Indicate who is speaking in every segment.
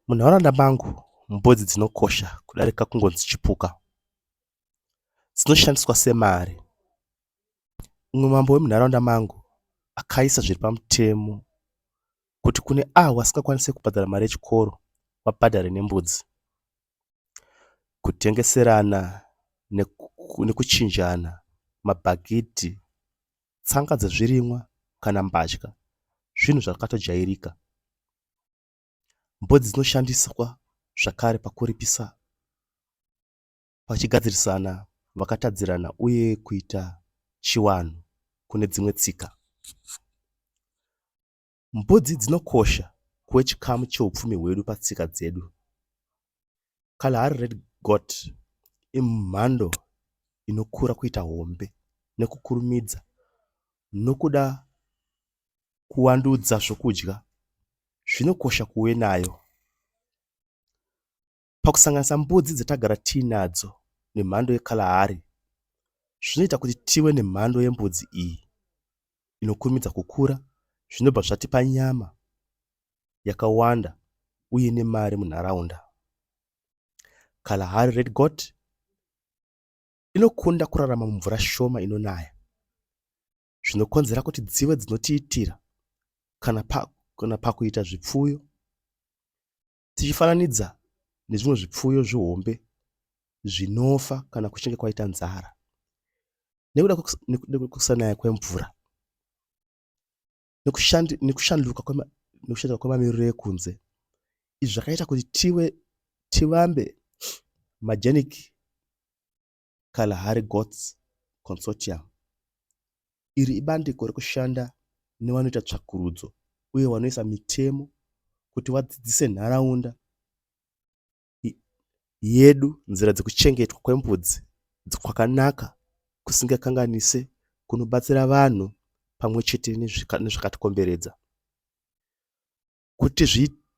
Speaker 1: Munharaunda mangu mbudzi dzinokosha kudarika kungonzi chipuka. Dzinoshandiswa semari. Umwe mambo wemunharaunda mangu akaisa zviri pamutemo kuti kune avo vasingakwanise kubhadhara mari yechikoro vabhadhare nembudzi. Kutengeserana nekuchinjana mabhagidhi. tsanga dzezvirimwa kana mbatya zvinhu zvakatojairika. Mbudzi dzinoshandiswa zvakare pakuripisa vachigadzirisana vakatadzirana uye kuita chiwanhu kune dzimwe tsika. Mbudzi dzinokosha kuve chikamu cheupfumi hwedu patsika dzedu. Kalahari Red Goat imhando inokura kuita hombe nekukurumidza nokuda kuwandudza zvokudya zvinokosha kuve nayo. Pakusanganisa mbudzi dzatagara tiinadzo nemhando yeKalahari, zvinoita kuti tive nemhando yembudzi iyi inokurumidza kukura zvinobva zvatipa nyama yakawanda uye nemari munharaunda. Kalahari Red Goat inokunda kurarama mumvura shoma inonaya zvinokonzera kuti dzive dzinotiitira kana pakuita zvipfuyo Tichifananidza nezvimwe zvipfuyo zvihombe zvinofa kana kuchinge kwaita nzara nekuda kwekusanaya kwemvura nekushanduka kwemamiriro ekunze izvi zvakaita kuti tive tivambe magenic Kalahari Goats Consortium. Iri ibandiko rekushanda nevanoita tsvakurudzo uye vanoisa mitemo kuti vadzidzise nharaunda yedu nzira dzekuchengetwa kwembudzi kwakanaka kusingakanganise kunobatsira vanhu pamwe chete nezvakatikomberedza. Kuti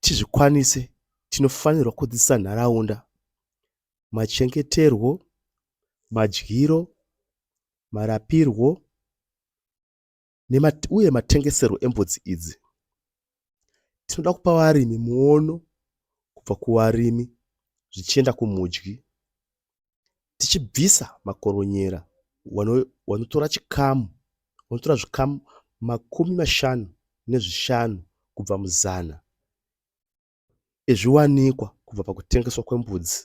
Speaker 1: tizvikwanise tinofanirwa kudzidzisa nharaunda machengeterwo, madyiro, marapirwo uye matengeserwo embudzi idzi. Tinoda kupa varimi muono kubva kuvarimi zvichienda kumudyi. tichibvisa makoronyera wanotora chikamu wanotora zvikamu makumi mashanu nezvishanu kubva muzana ezviwanikwa kubva pakutengeswa kwembudzi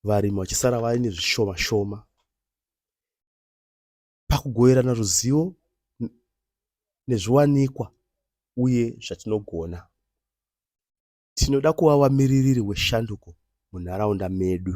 Speaker 1: varimi vachisara vaine zvishoma shoma pakugoverana ruzivo nezviwanikwa uye zvatinogona Tinoda kuva vamiririri weshanduko munharaunda medu.